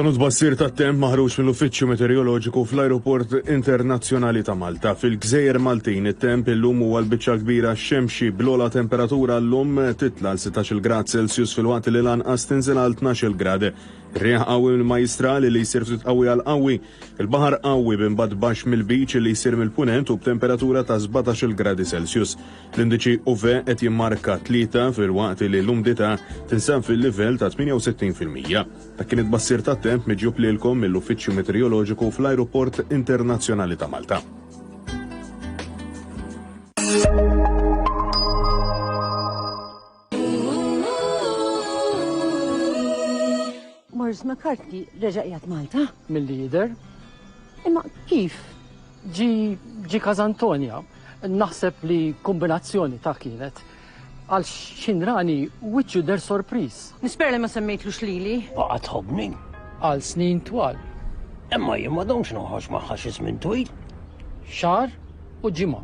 Tanu tbassir ta' temp maħruġ mill-Uffiċċju Meteoroloġiku fl-Ajruport Internazzjonali ta' Malta. Fil-Gżejjer Maltin it-temp illum huwa l-biċċa kbira xemxi bl-ola temperatura llum titla' l 16 grad Celsius fil-waqt li lanqas tinżel għal 12 grad. Riħ qawwi mill-majstrali li jsir ftit qawwi għal qawwi, il-baħar qawwi b'imbagħad baxx mill-biċ li jsir mill-punent u b'temperatura ta' 17 gradi Celsius. L-indiċi UV qed jimmarka tlieta filwaqt li l-umdità tinsab fil-livell ta' 68 fil-mija. Dak kien it-tbassir tat-temp miġjub lilkom mill-Uffiċċju Meteoroloġiku fl-Ajruport Internazzjonali ta' Malta. Morris McCarthy reġa' qiegħed Malta? Milli jidher. Imma kif ġi ġi Kazantonja naħseb li kombinazzjoni ta' kienet għal xinrani wiċċu der sorpriż. Nisper li ma semmejtlux lili. Baqa' tħobbni. Għal snin twal. Imma jien ma domx noħroġ magħha xi żmien twil. Xar? u Jimma.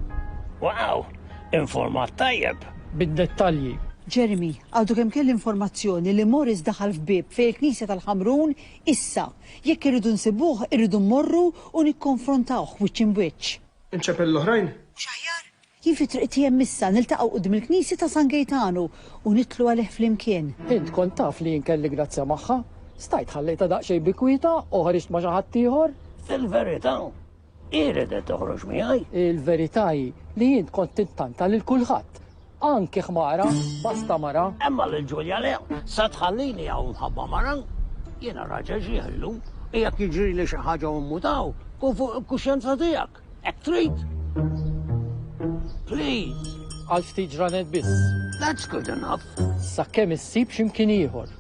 Wow! Informat tajjeb! Bid-dettalji. Jeremy, għadu kemm kelli informazzjoni li Morris daħal f'bieb fejn il-Knisja tal-Ħamrun issa. Jekk irridu nsibuh, irridu mmorru u nikkonfrontawh wiċċ imb'wiċċ. Inċepp lill-oħrajn? Mhux aħjar? Jien fi triqti hemm issa, niltaqgħu quddiem il-Knisja ta' San Gejtanu u nidħlu għalih flimkien. Int kont taf li jien kelli grazzja magħha? Stajt ħallejtha daqsxejn bi kwietha u ħriġt ma' xi ħaddieħor? Fil-verità, Hi redet toħroġ miegħi. Il-verità hi li int kont tintanta lil kulħadd, anki ħmara, basta mara. Imma lil Ġulja le, sa tħallini hawn mħabba mara. Jiena raġel ġieħ illum, u jekk jiġrili xi ħaġa u mmut hawn, kun fuq il-kuxjenza tiegħek. Hekk trid? Please. Għal ftit ġranet biss. That's good enough. Sakemm issib x'imkien ieħor.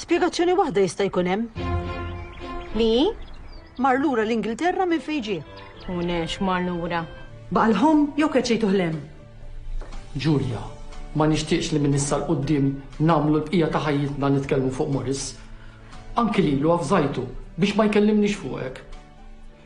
Spjegazzjoni waħda jista' jkun hemm. Li hi? Mar lura l-Ingilterra minn fejn ġie. U nex mar lura. Baqa' l-ħomm jew keċejtuh l-hemm? Julia, Ma nixtieqx li minn issa 'l quddiem nagħmlu l-bqija ta' ħajjitna nitkellmu fuq Morris. Anki lilu avżajtu biex ma jkellimnix fuqek.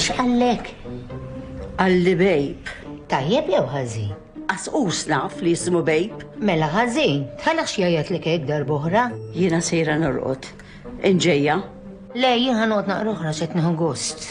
X'qallek? Qalli Bejb. Tajjeb jew ħażin? Qasqus naf li jismu Bejb. Mela ħażin, tħallih x'jgħajjatlek hekk darb'oħra. Jiena sejra norqod. Inġejja? Le, jien ħa noqgħod naqra oħra x'qed nieħu gost.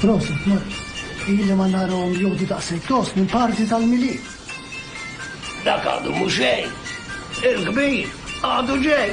Prosit Mark. Ili ma narahom jgħodu daqshekk tost minn parti tal-Milied. Dak għadu mhu xejn. Il-kbir għadu ġej.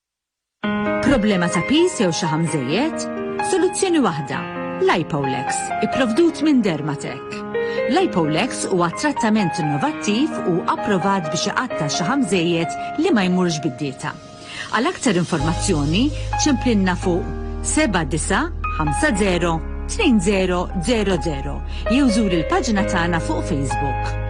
Problema ta' piż jew xaħam żejjed? Soluzzjoni waħda, Lipolex, ipprovdut minn Dermatec. Lipolex huwa trattament innovattiv u approvat biex iqatta' xaħam żejjed li ma jmurx bid-dieta. Għal aktar informazzjoni, ċemplilna fuq 7950 2000 jew żur il-paġna tagħna fuq Facebook.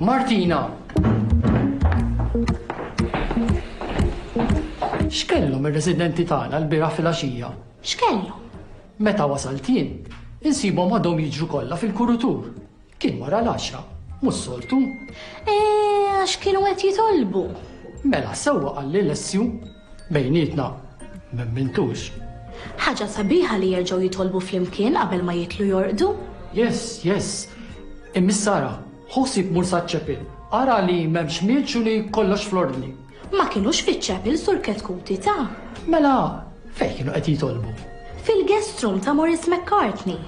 Martina! X'kellhom ir-residenti tagħna l-bieraħ filgħaxija? X'kellhom? Meta wasalt jien, insibhom għadhom jiġru kollha fil-kurutur. Kien wara l-għaxra, mhux soltu. Eh, għax kienu qed jitolbu. Mela sewwa qalli Lessju Bejnietna m'emmintux. Ħaġa sabiħa li jerġgħu jitolbu flimkien qabel ma jitlu jorqdu. Yes, yes. Miss Sara, ħu ssib mur saċ-ċepil. Ara li m'hemmx mielx u li kollox fl-ordni. Ma kinux fiċ-ċepil, Sur Ketkuti, ta. Mela fejn kienu qed jitolbu? Fil-guest room ta' Maurice McCartney.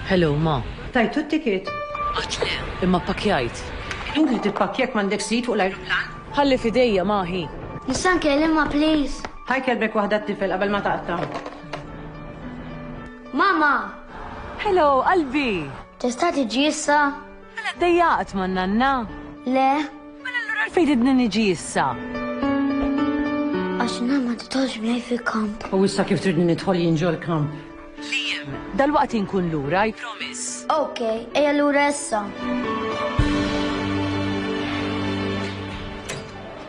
Hello ma. Tajtu t-ticket? Għad le. Imma ppakkjajt. Int li tippakkja jekk m'għandekx seat fuq l-ajruplan? Ħalli f'idejja ma hi. Nista' nkellimha please? Hi kellbek waħda t-tifel qabel ma taqta'. Mama! Hello qalbi. Tista' tiġi issa? Mela ddejjaqt ma' nanna? Le. Mela allura għalfejn ridni niġi issa? Għax na ma titħolx miegħi fil-kamp. U issa kif tridni nidħol jien ġol-kamp? Liam, dal-waqt inkun lura, I promise. Ok, eja lura issa.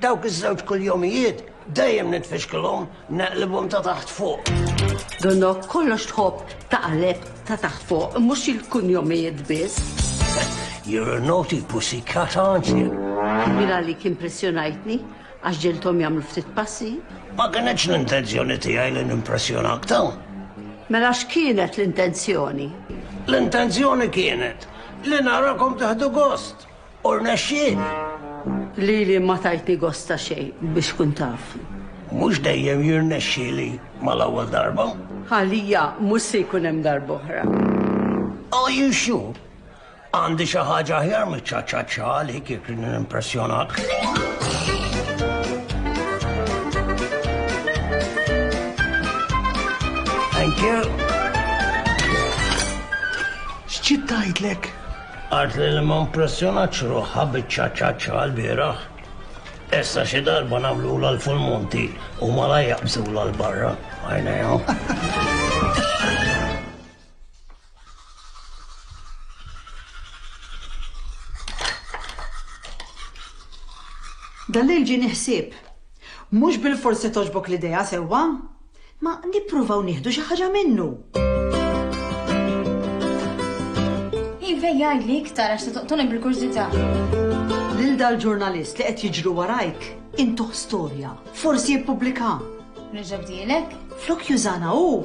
Dawk iż-żewġ kuljomijiet dejjem nitfixkilhom, neqlibhom ta' taħt fuq. Donnok kollox tħobb taqleb ta' taħt fuq, mhux il-kunjomijiet biss. You're a naughty pussy cat, aren't you? Kbir għalik impressjonajtni għax ġilthom jagħmlu ftit passi. Ma kinitx l-intenzjoni tiegħi li nimpressjonak taw. Mela x'kienet l-intenzjoni? L-intenzjoni kienet li narakom teħdu gost. U rnexxieni! Lili ma tajtni gost ta' xejn, biex tkun taf. Mhux dejjem jirnexxieli mal-ewwel darba. Għalija mhux se jkun hemm darb'oħra. Are you sure? Għandi xi ħaġa aħjar miċ-ċaċaċċa għalik jekk ridni nimpressjonak. Thank you. X'ġiet tgħidlek? Qaltli li ma impressjonatx ruħha biċ-ċaċaċċa l-bieraħ. Issa xi darba nagħmlulha l-full monty u malajr jaqbżulha 'l barra, għajnejha. Dal-lejl ġieni ħsieb. Mhux bilfors se togħġbok l-idea, sewwa? Ma nippruvaw nieħdu xi ħaġa minnu! Iva jgħidli iktar għax se toqtolni bil-kurżità. Lil dal-ġurnalist li qed jiġru warajk intuħ storja, forsi jippubblika. Reġa' bdielek? Flok jużana hu,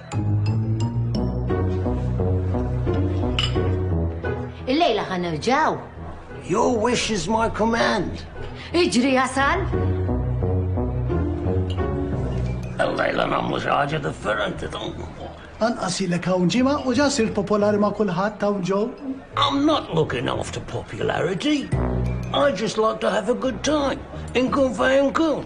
Illejla ħan nerġaw. Your wish is my command. Iġri jasal. Illejla namlu xaġa differenti tangu. Anqas ilek hawn ġimgħa u ġa sir popolari ma' kulħadd hawn ġew. I'm not looking after popularity. I just like to have a good time. Inkun fejn kun.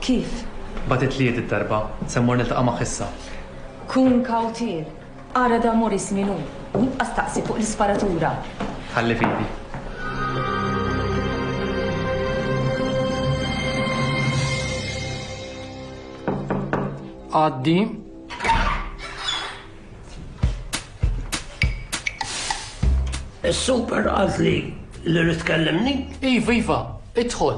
Kif? Bagħtitli hi did-darba. Se mmur niltaqa' magħha issa. Kun kawtiel. Ara da Maurice min hu. U ibqa' staqsi fuq l-isparatura. Ħalli fidi. Għaddi. Is-super għalt li li ritkellimni? Iva, iva, idħol.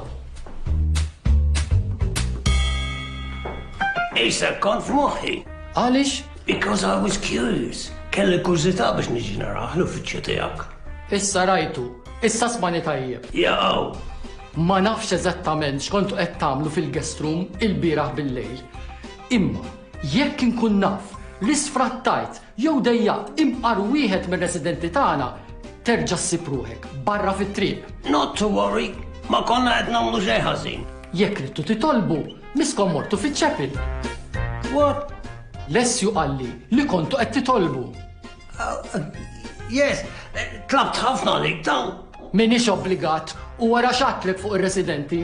Isek kont f'moħħi. Għaliex? Because I was curious. Kelli kurzita biex niġi naraħ l-uffiċċju tiegħek. Issa rajtu, issa smani tajjeb. Jaqaw. Ma nafx eżattament x'kontu qed tagħmlu fil-guest room il-bieraħ bil-lejl. Imma, jekk inkun naf li sfrattajt jew dejjaqt imqar wieħed mir-residenti tagħna, terġa' ssib ruħek barra fit-triq. Not to worry, ma konna qed nagħmlu xejn ħażin. Jekk ridtu titolbu, miskom mortu fiċ-ċepil. What? Lessju qalli li kontu qed titolbu. Yes, tlabt ħafna għalik dawn. Minix obbligat u wara xatlib fuq ir-residenti.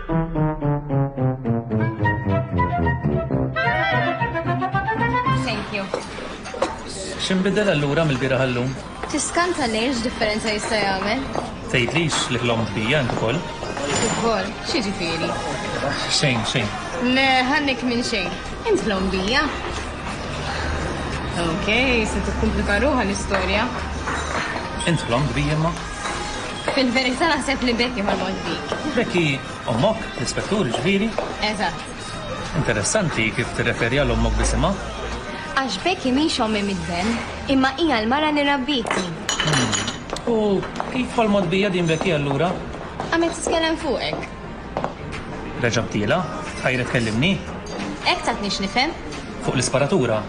Thank you. Xinbidel allura mill-bira ħallum? Tiskanta lejn x'differenza jista' jagħmel? Tgħidlix li ħlom bija int ukoll? Ukoll, xi ġifieri? Xejn, xejn. Le, ħannek minn xejn. Int ħlom bija. Ok, se tikkumplika ruħa l-istorja. Int ħlom bija ma? Fil-verità naħseb li Becky ma l-mod dik. Becky ommok, l-ispettur ġviri? Eżatt. Interessanti kif tirreferi għal ommok bisimha. Għax Becky mhix ommi mid-dem, imma hija l-mara li rabbiti. Hmm. U kif għal mod bija din Becky allura? Għamet titkellem fuqek. Reġa' btiela, ħajret kellimni. Ek tatni x'nifhem? Fuq l-isparatura,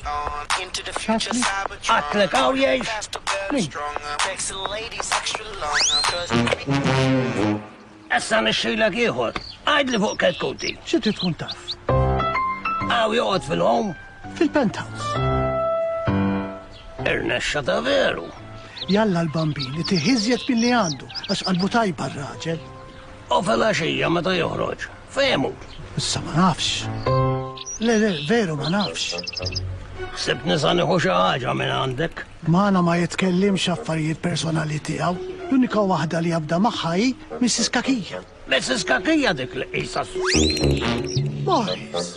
Tafni? Għatlek hawn jgħix? Issa nixxilek ieħor. Għidli fuq Cat Cutie. Xi trid tkun taf? Hawn joqgħod fil-home? Fil-penthouse. Irnexxa ta' veru. Jalla l-bambin itiħ iżjed milli għandu għax qalbu tajba r-raġel. U fil-għaxija meta joħroġ? Fehmu! Issa ma nafx. Le, le, veru ma nafx. Ħsibt nisa' nieħu xi ħaġa minn għandek. Magħna ma jitkellimx affarijiet personali tiegħu. L-unika waħda li jafda magħha hi Missis Kakija. Missis Kakija dik li qisha Boris!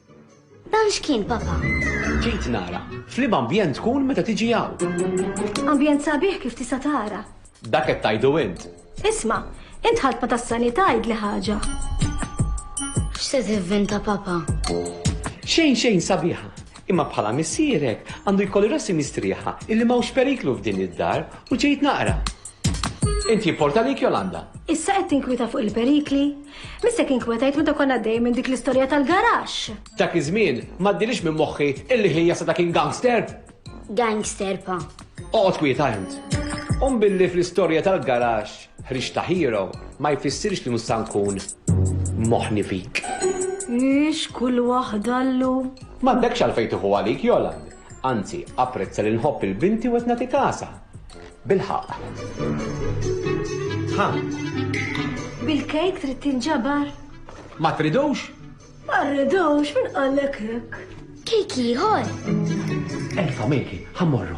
Dan x'kien, Papa? Ġejt nara f'liema ambjent tkun meta tiġi hawn. Ambjent sabiħ kif tista' tara. Dak qed tgħidu int. Isma', int ħadma tas-sanità għidli ħaġa. X'se tivvinta, Papa? Xejn xejn sabiħa. Imma bħala missierek għandu jkolli rasi mistrieħa illi m'hawnx periklu f'din id-dar u ġejt naqra. Inti importa lik Jolanda. Issa qed tinkwita fuq il-perikli? Missek inkwetajt meta konna dej minn dik l-istorja tal-garax. Dak iż-żmien m'għaddilix minn moħħi illi ħlija sa dak kien gangster. Gangster pa. Oqgħod kwieta int. U billi fl-istorja tal-garax ħriġ ta' hero ma jfissirx li mussa nkun moħni fik. Ix kull waħda llum. M'għandekx għalfejn tieħu għalik Jolanda. Anzi, apprezza li nħobb il-binti u qed nagħti kasha. Bilħaqq. Ħa. Bil-kejk trid tinġabar? Ma tridux? Ma rridux, min qallek hekk? Kejk ieħor. Elfa Milki, ħammorru.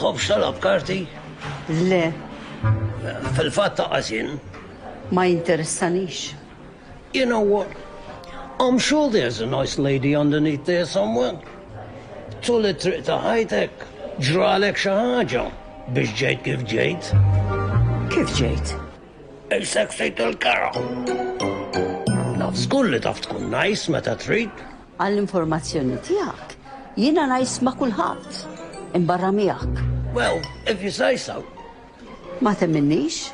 tħobbx talab karti? Le. Fil-fatt ta' qasin? Ma jinteressanix. You know what? I'm sure there's a nice lady underneath there somewhere. Tul it-triq ta' ħajtek, ġralek xi ħaġa biex ġejt kif ġejt. Kif ġejt? Il-sexy tal-kara. Naf żgur li taf tkun nice meta trid. Għall-informazzjoni tiegħek, jiena nice ma' kulħadd, imbarra miegħek. Well, if you say so. Ma temminnix?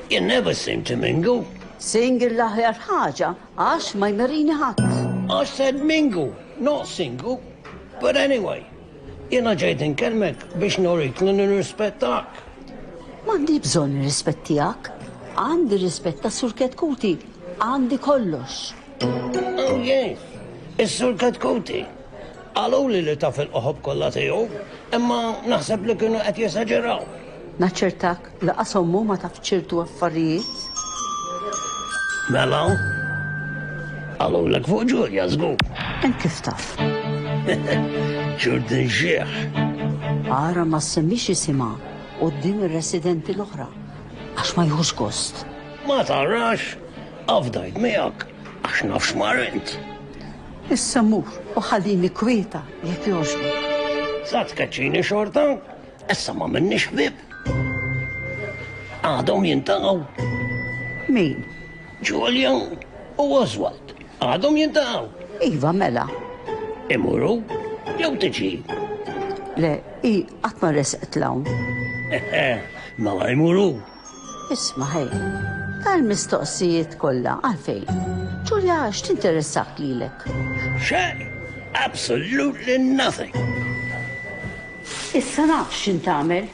You never seem to mingle. Single l-aħjar ħaġa għax ma jmerini ħadd. I said mingle, not single. But anyway, jena ġejt inkelmek biex norik li nirrispettak. Mandi bżon nirrispettijak. Għandi rispetta sur ketkuti. Għandi kollox. Oh yes, is-sur ketkuti. Qaluli li taf il-qoħob kollha tiegħu, imma naħseb li kienu qed jesaġeraw. Naċċertak li qas ommu ma taf ċertu affarijiet. Mela? Qalulek fuq Ġulja żgur. Hemm kif taf. Ġurdin xieħ. Ara ma semmix isimha quddiem ir-residenti l-oħra għax ma jħux gost. Ma tarax, afdajt miegħek. Għax naf x'mar int. Issa mur u ħallini kwieta jekk jogħġbok. Sa tkeċċini xorta? Issa ma minnix ħbieb. Għadhom jintaqgħu. Min? Ġulja u Oswald. Għadhom jintaqgħu. Iva mela. Imuru jew tiġi. Le, i qatt ma resqet l-hawn. Mela jmuru. Isma' ħej. Tal-mistoqsijiet kollha, għalfejn? Ġulja, x'tinteressahk lilek? Xejn! Absolutely nothing! Issa naf x'int tagħmel.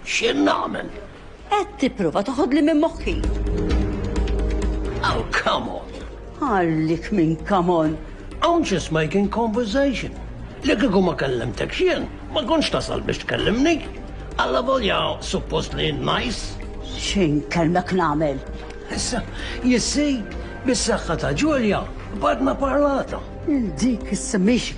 X'int nagħmel? Qed tipprova toħodli minn moħħi. Oh, come on! Għalik minn come on. I'm just making conversation. Li kieku ma kellimtek xien, ma kontx tasal biex tkellimni. Alla volja suppost li nice. Xejn kelmek nagħmel. Issa, jissi, bis-saħħa ta' Ġulja, badna parlata. Dik is-semmix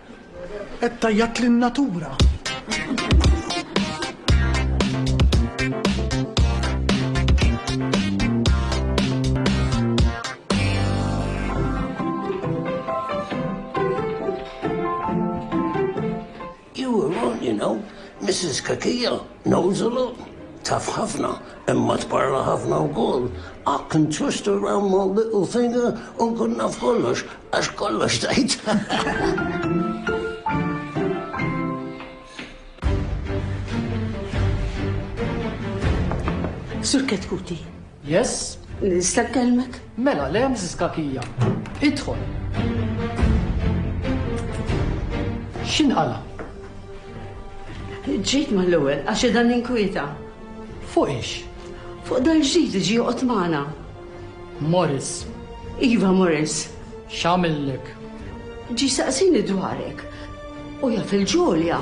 Qed tgħajjat lin-natura. You were wrong, you know. Mrs. Kakija knows a lot. Taf ħafna. Imma tparla ħafna wkoll, I can twist around my little finger u nkun naf kollox, għax kollox tgħid. Sur Ketkuti. Yes? Nista' kelmek? Mela, le hemm ziskakija. Idħol. X'inqala? Ġejt mal-ewwel għax dan inkwieta. Fuq ix? Fuq dan l-ġdid li ġie joqgħod magħna? Morris. Iva, Morris. X'għamillek? Ġie saqsini dwarek. U jaf il-Ġolja.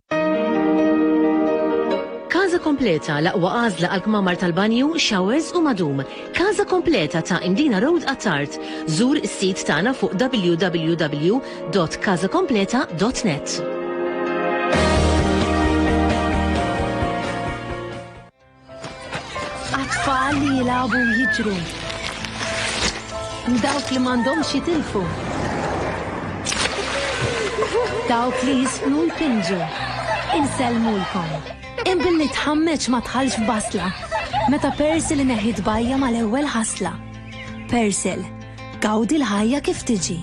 Każa kompleta l-aqwa għażla għal kmamar tal-banju, showers u madum. Każa kompleta ta' Indina Road għat-Tard. Żur is-sit tagħna fuq www.kazakompleta.net. Għat-tfal li jilabu u jiġru. Dawk li m'għandhomx jitilfu. Dawk li jisfnu jpinġu. Insellmulkom. Imbilli tħammeġ ma tħallx f'basla. Meta Persil ineħħi tbajja mal-ewwel ħasla. Persil, gawdi l-ħajja kif tiġi.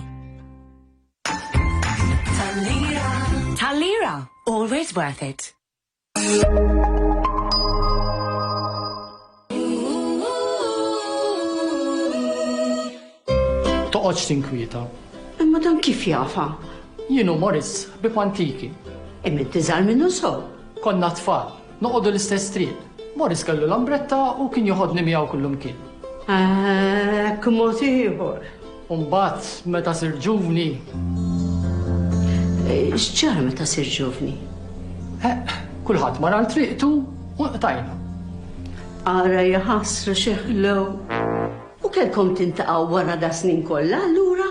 Tallira, always worth it. Toqgħodx tinkwieta. Imma dan kif jafa? Jienu Morris, bib antiki. Imma inti żgħar minnu so. Konna tfal, noqogħdu l-istess triq. Morris kellu l-ambretta u kien joħodni miegħu kullum kien. Ekk mod ieħor. U mbagħad meta sirt ġuvni? X'ġara meta sirt ġuvni? Eh, kulħadd mar għal triqtu u nqtajna. Ara jaħasru xi ħlew. U kellkom tintaqgħu wara da snin kollha allura?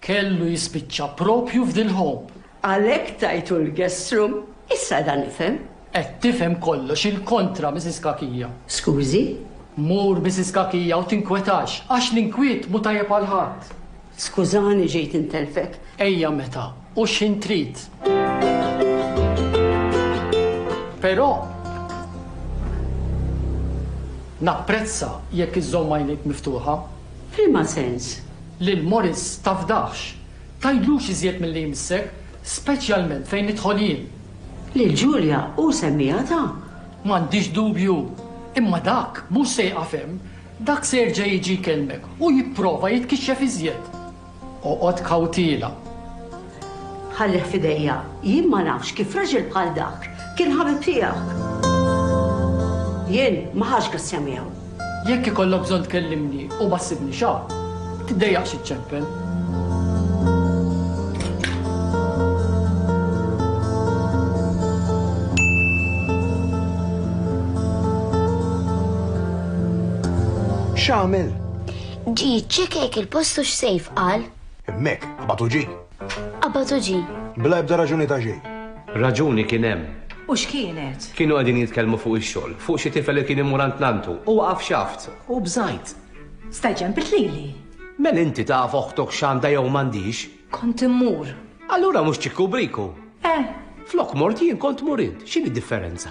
Kellu jispiċċa propju f'dil-ħobb. Għalhekk tajtu l-guest room? Issa qiegħda nifhem. Qed tifhem kollox il-kontra, Mrs. Cachia. Skużi? Mur, Mrs. Cachia, u tinkwetax, għax l-inkwiet mhu tajjeb għal ħadd. Skużani ġejt intelfek. Ejja meta, u x'ħin trid. Però napprezza jekk iżżomm għajnejk miftuħa. F'liema sens? Lil Morris tafdahx. Tgħidlux iżjed milli jmissek, speċjalment fejn nidħol jien. Lil Julia hu semmiha ta? M'għandix dubju. Imma dak mhux se jieqaf hemm. Dak se jerġa' jiġi jkellmek u jipprova jitkixxef iżjed. Oqgħod kawtiela. Ħallih f'idejja. Jien ma nafx kif raġel bħal dak kien ħabib tiegħek. Jien ma ħax gost semmiegħu. Jekk ikollok bżonn tkellimni u ma ssibnix hawn, tiddejjaqx iċċempel. X'għamel? Ġie ċċekkja jekk il-post hux safe, qal. Hemmhekk, qabad u ġie. Qabad u ġie. Bla ebda raġuni ta' xejn. Raġuni kien hemm. U x'kienet? Kienu qegħdin jitkellmu fuq ix-xogħol, fuq xi tifel li kien imur għand nanntu, u waqa' f'xaft, u bżajt. Staġenbt lili. Mel inti taf oħtok x'għandha jew m'għandhiex? Kont immur. Allura mhux ċikku briku? Eh. Flok mort jien kont mur int. X'inhi d-differenza?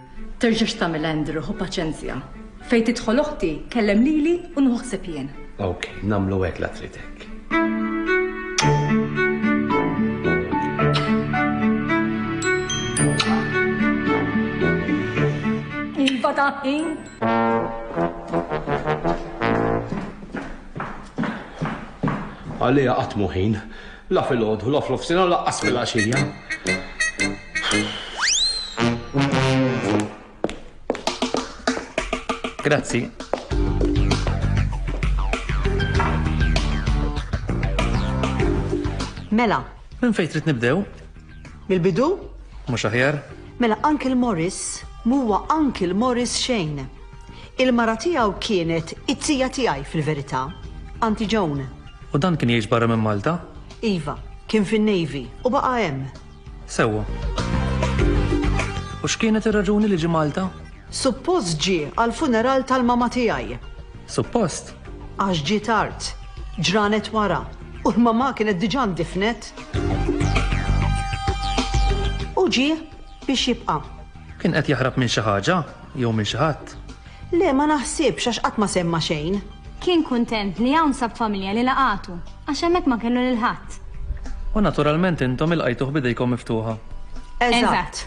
Terġax tagħmilha Andrew ħu paċenzja. Fejn tidħol oħti kellem lili u nieħu ħsieb jien. Ok, nagħmlu hekk la trid hekk. Iva ta' ħin. Għaliha qatt mhu ħin. La filgħodu, la f'nofsinhar u lanqas filgħaxija. Grazzi. Mela. Minn fejn trid nibdew? Mill-bidu? Mhux aħjar? Mela Uncle Morris mhuwa Uncle Morris xejn. Il-mara tiegħu kienet it-tija tiegħi fil-verità, Anti Joan. U dan kien jgħix barra minn Malta? Iva, kien fin-Navy u baqa' hemm. Sewwa. U x'kienet ir-raġuni li ġie Malta? Suppost ġie għall-funeral tal-mama tiegħi. Suppost? Għax ġie tard, ġranet wara, u l-mama kienet diġà ndifnet. U ġie biex jibqa'. Kien qed jaħrab minn xi ħaġa? jew minn xi ħadd? Le, ma naħsibx, għax qatt ma semma xejn. Kien kuntent li hawn sab familja li laqgħatu, għax hemmhekk ma kellu lil ħadd. U naturalment intom ilqajtuh b'idejkom miftuħa. Eżatt.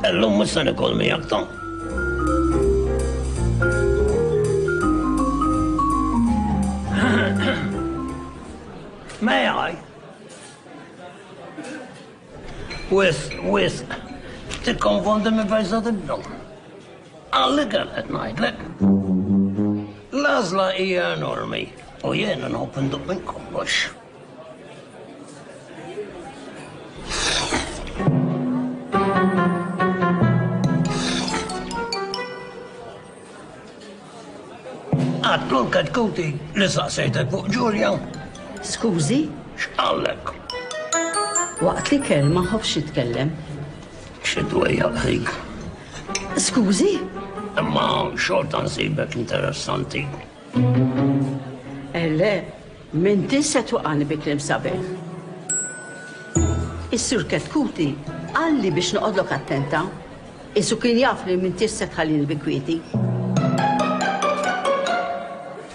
Illum mhux se nikol miegħek ta'. May I? Wis, wis, tikkonfondi minn versa tibnu. Għalli kan qed ngħidlek. L-għażla hija enormi u jien nħobb nduq minn kollox. Għad kol katkuti li saqsejtek fuq Ġulja. Skużi? X'qallek? Waqt li kell ma ħobx jitkellem. Xidwejja ħik. Skużi? Imma xorta nsibek interessanti. Ele, m'intix se twaqqagħni bi kliem sabiħ. Is-Sur Ketkuti qalli biex noqgħodlok attenta, isu kien jaf li m'intix se tħallini bi kwieti.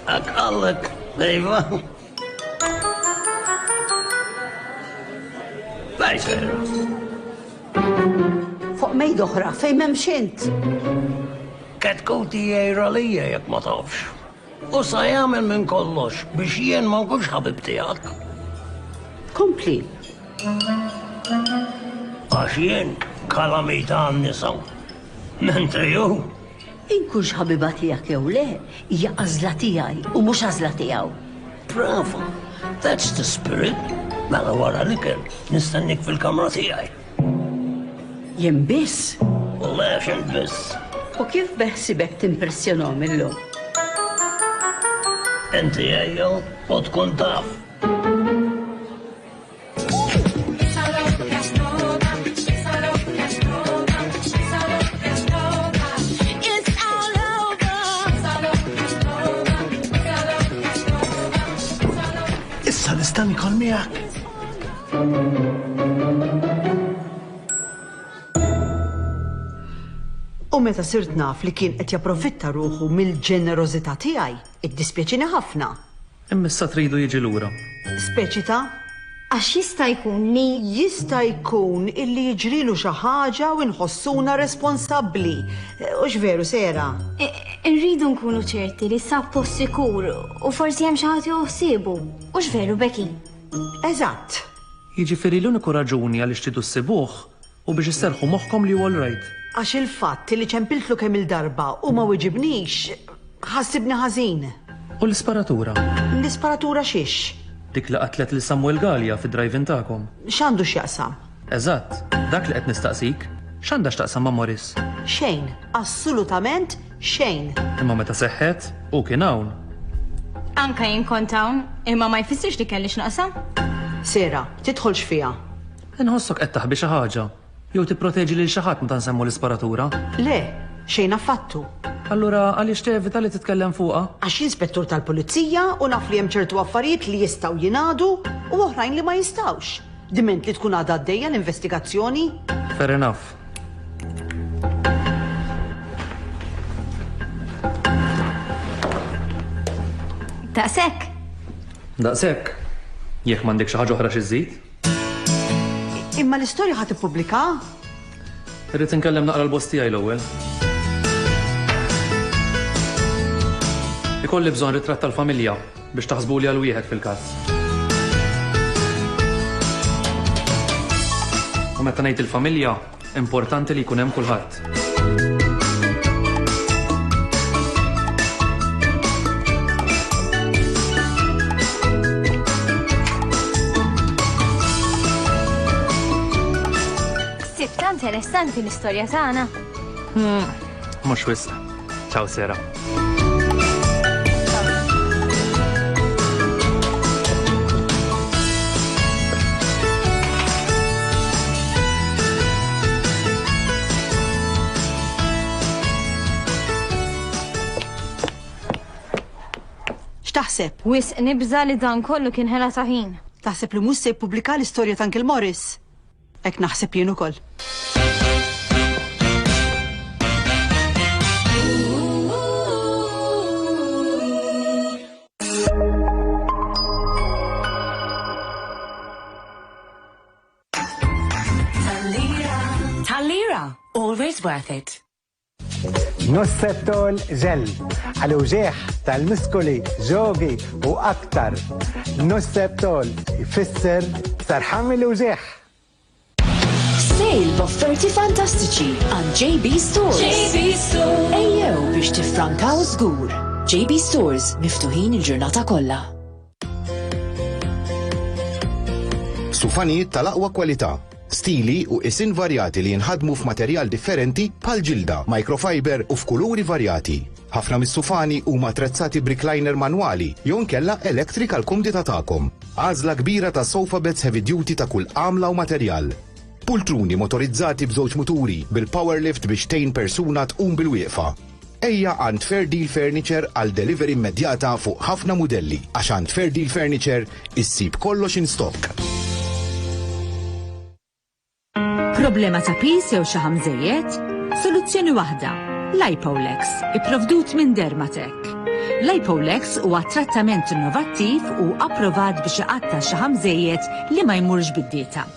Hekk qallek, Eva? Fuq mejda oħra fejn m'hemmx int. Ketkuti jgħiralija jekk ma tafx. U sa jagħmel minn kollox biex jien ma nkunx ħabib tiegħek. Kompli. Għax jien kalamita għan-nisa. Mentri hu Inkunx ħabiba tiegħek jew le, hija għażla tiegħi u mhux għażla tiegħu. Bravo! That's the spirit! Mela wara l-ikel, nistennik fil-kamra tiegħi. Jien biss? Le, xejn biss. U kif beħsibek timpressjonhom illum? Inti ejjew u tkun taf. Nista' nikol miegħek. U meta sirt naf li kien qed japprofitta ruħu mill-ġenerożità tiegħi, iddispjaċini ħafna. Imma issa tridu jiġi lura. Speċi ta'. Għax jista' jkun li. Jista' jkun illi jiġrilu xi ħaġa u nħossuna responsabbli. Hux veru, Sarah? Irridu nkunu ċerti li sab post sikur u forsi hemm xi ħadd jieħu ħsiebu. Hux veru, Becky? Eżatt. Jiġifieri l-uniku raġuni għaliex tridu ssibuh U biex isserrħu moħħkom li hu all right. Għax il-fatt li ċempiltlu kemm-il darba u ma wiġibnix, ħassibni ħażin. U l-isparatura? L-isparatura x'hix? Dik li qatlet lil Sammuel Galea fid-drive-in tagħkom. X'għandu x'jaqsam? Eżatt, dak li qed nistaqsik. X'għandha x'taqsam ma' Morris? Xejn, assulutament xejn. Imma meta seħħet, hu kien hawn. Anke jien kont hawn, imma ma jfissirx li kelli x'naqsam. Sarah, tidħolx fiha. Inħossok qed taħbi xi ħaġa? Jew tipproteġi lil xi ħadd meta nsemmu l-isparatura? Le, xejn affattu. Allura għaliex tevita li titkellem fuqha? Għax jien spettur tal-pulizija u naf li hemm ċertu affarijiet li jistgħu jingħadu u oħrajn li ma jistgħux. Diment li tkun għadha għaddejja l-investigazzjoni. Fair enough. Daqshekk. Daqshekk. Jekk m'għandek xi ħaġa oħra xi żżid? Imma l-istorja ħa tippubblika? Irrid inkellem naqra l-boss tiegħi l-ewwel. Ikolli bżonn ritratt tal-familja biex taħsbuli għal wieħed fil-każ. U meta ngħid il-familja, Importanti li jkun hemm kulħadd. Ħsiebtha interessanti l-istorja tagħna? Mhux wisq. Ciao Sera. X'taħseb? Wis nibża li dan kollu kien ħela ta' ħin. Taħseb li mhux se jippubblika l-istorja ta' Uncle Morris? Hekk naħseb jien ukoll. Tal-lira. Tal-lira. Always worth it. Nossettol żell, għal-uġieħ tal-miskuli, ġogi u aktar. Nossettol ifisser sarħam il-uġieħ. Sejl b'offerti fantastiċi għand JB Stores. JB Stores. Ejjew biex tiffrankaw żgur. JB Stores miftuħin il-ġurnata kollha. Sufanijiet tal-aqwa kwalità, stili u isin varjati li jinħadmu f'materjal differenti bħal ġilda, microfiber u f'kuluri varjati. Ħafna mis-sufani huma attrezzati b'recliner manwali jew inkella electric għall-kumdità tagħkom. Għażla kbira ta' sofa beds heavy duty ta' kull għamla u materjal. Pultruni motorizzati b'żewġ muturi bil-powerlift biex tgħin persuna tqum bilwieqfa. Ejja għand Fair Deal Furniture għal delivery immedjata fuq ħafna mudelli għax għand Fair Deal Furniture issib kollox in stock. Problema ta' piż jew xaħam żejjed? Soluzzjoni waħda, Lipolex, ipprovdut minn Dermatec. Lipolex huwa trattament innovattiv u approvat biex iqatta' xaħam żejjed li ma jmurx bid-dieta.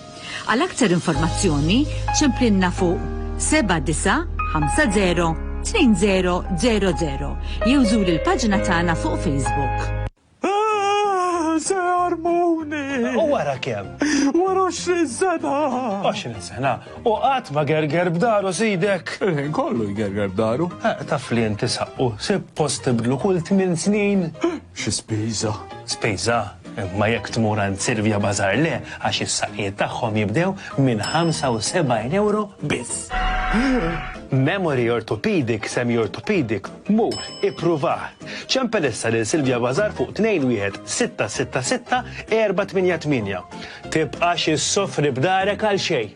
Għal aktar informazzjoni ċemplinna fuq 79502000 jew żur il-paġna tagħna fuq Facebook. Se jarmuni! U wara kemm? Wara 20 sena! 20 sena? U qatt ma gerger b'daru sidek? Ħin kollu jgerger b'daru. Taf li inti saqqu, sib post tibdlu kull tmien snin. Xi spiża! Spiża? Imma jekk tmur għand Sylvia Bazaar le, għax is-saqqiet tagħhom jibdew minn 75 ewro biss. Memory Orthopedic, Semi Orthopedic, mur, ippruvah! Ċempel issa lil Sylvia Bazaar fuq 21666 488. Tibqax issofri b'darek għal xejn!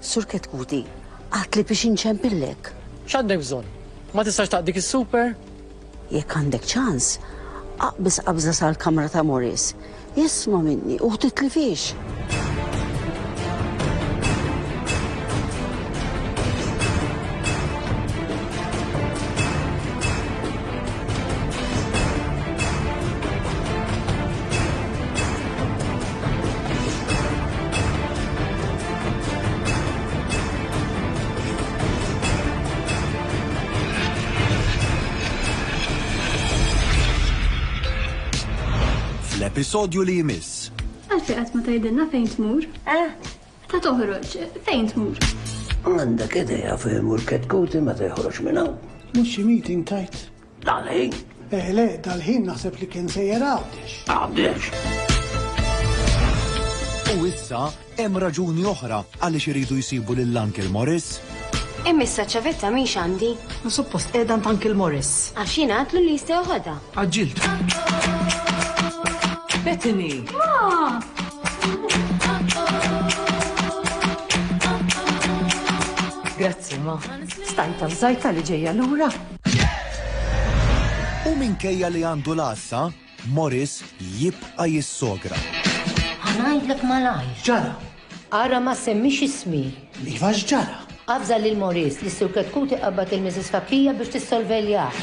Sur Ketkuti, għadtli biex inċempillek. X'għandek bżonn? Ma tistax taqdik is-super? Jekk għandek ċans, aqbiż qabża sal-kamra ta' Morris. Isma' minni u titlifix! Fl-episodju li jmiss. Għalfejn qatt ma tgħidilna fejn tmur? Eh? Ta' toħroġ, fejn tmur? Għandek idea fejn mur ketkuti ma teħroġ minn hawn. Mhux xi meeting tajt? Dal-ħin? Eh le, dal-ħin naħseb li kien sejjer Għawdex. Għawdex? U issa hemm raġuni oħra għaliex iridu jsibu lil Uncle Morris. Imma issa ċavetta mhix għandi. Ma suppost qiegħda għand Uncle Morris. Għax jien għatlu li jista' joħodha. Aġġilt. Betini. Ah! Grazzi ma. Stajta bżajta li ġejja lura. U minkejja li għandu l-għassa, Morris jibqa' jissogra. Ħa ngħidlek malajr. X'ġara? Ara ma semmix ismi. Iva x'ġara? Avża lil Morris li s-Sur Ketkuti qabad il-Mrs. Fakkija biex tissorveljah.